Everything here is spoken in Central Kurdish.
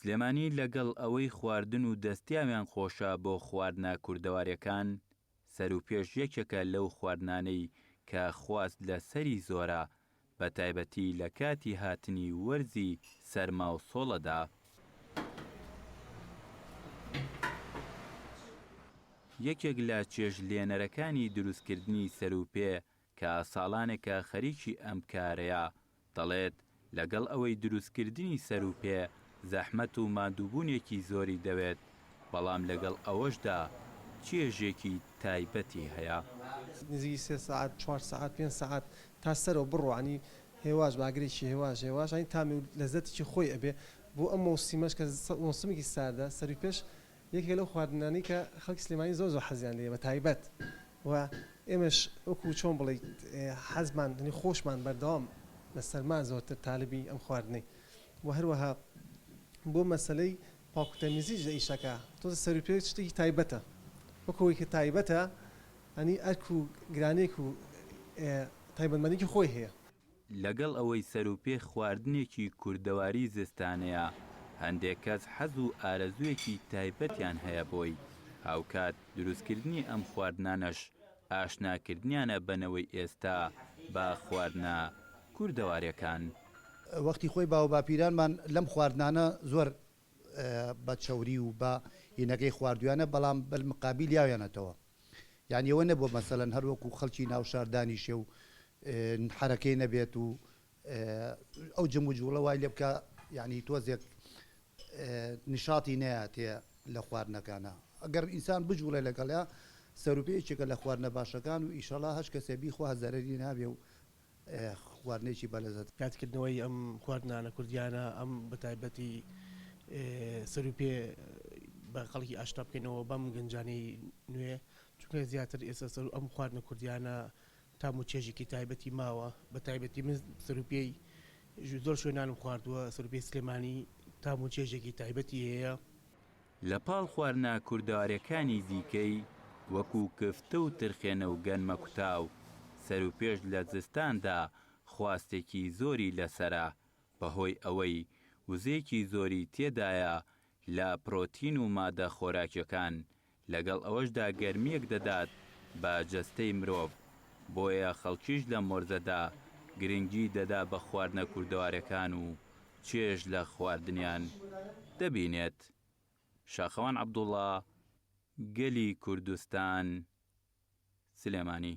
سلێمانی لەگەڵ ئەوەی خواردن و دەستیاویان خۆشە بۆ خواردنە کوردەواریەکان، سەروپێش یەکێکە لەو خواردنانەی کە خواست لە سەری زۆرە بە تایبەتی لە کاتی هاتنی وەرزی سەرما و سۆڵەدا. یەکێک لە چێژ لێنەرەکانی دروست کردنی سەروپێ کە ساڵانێکە خەریکی ئەم کارەیە، دەڵێت، لەگەڵ ئەوەی دروستکردنی سەروپێ زەحمەت و ماندووبوونێکی زۆری دەوێت، بەڵام لەگەڵ ئەوەشدا چێژێکی تایبەتی هەیە. نزیکی سێ سەعات، چوار سەعات، پێنج سەعات تا سەرەوە بڕوانی هێواش بە ئاگرێکی هێواش هێواش ئەنی تامی و لەزەتێکی خۆی ئەبێ بۆ ئەم مەوسیمەش کە مەوسمێکی ساردە سەروپێش یەکێکە لەو خواردنانەی کە خەڵکی سلێمانی زۆر زۆر حەزیان لێیە بە تایبەت و ئێمەش وەکوو چۆن بڵێیت حەزمان یانی خۆشمان بەردەوام لە سەرما زۆرتر تالبی ئەم خواردنەی و هەروەها بۆ مەسەلەی پاک و تەمیزیش لە ئیشەکە تۆزێ سەر و پێ شتێکی تایبەتە وەکوو ئەوەی کە تایبەتە یانی ئەرک و گرانێک و تایبەتمەندێکی خۆی هەیە. لەگەڵ ئەوەی سەروپێ خواردنێکی کوردەواری زستانەیە، هەندێک کەس حەز و ئارەزوویەکی تایبەتیان هەیە بۆی، هاوکات دروستکردنی ئەم خواردنانەش ئاشناکردنیانە بە نەوەی ئێستا بە خواردنە کوردەوارەکان. وەختی خۆی باوباپیرانمان لەم خواردنانە زۆر بە چەوری و بە هینەگەی خواردویانە، بەڵام بەلمقابیل یاویانەتەوە. یانی ئەوە نەبووە مەسەلەن هەر وەکو خەڵکی ناو شار دانیشێ و حەرەکەی نەبێت و ئەو جم و جوڵە وای لێ بکا یعنی تۆزێک نشاتی نەیاتێ لە خواردنەکانە ئەگەر ئینسان بجوڵێ لەگەڵە سەروپێچێکە لە خواردنە باشەکان و ئیشەڵا هەش کەسێ بیخوا زەرری نابێ و خواردنێکی بەلەزەت. یادکردنەوەی ئەم خواردنانە کوردیانە ئەم بەتایبەتی سەرو پێ بە خەڵکی ئاشنا بکەینەوە بەم گەنجانی نوێ چونکە زیاتر ئێستا سەرو ئەم خواردنە کوردیانە تام و چێژێکی تایبەتی ماوە بەتایبەتی من سەرو پێی زۆر شوێنانم خواردووە سەرو پێی سلێمانی تام و چێژێکی تایبەتی هەیە. لە پاڵ خواردنە کوردەواریەکانی دیکەی وەکو کفتە و ترخێنە و گەنمەکوتاو، سەروپێش لە زستاندا خواستێکی زۆری لەسەرە، بەهۆی ئەوەی وزەیەکی زۆری تێدایە لە پرۆتین و مادە خۆراکیەکان، لەگەڵ ئەوەشدا گەرمیەک دەدات بە جەستەی مرۆڤ، بۆیە خەڵکیش لەم وەرزەدا گرنگی دەدا بە خواردنە کوردەوارەکان و چێژ لە خواردنیان دەبینێت. شاخەوان عەبدوڵا، گەلی کوردستان، سلێمانی.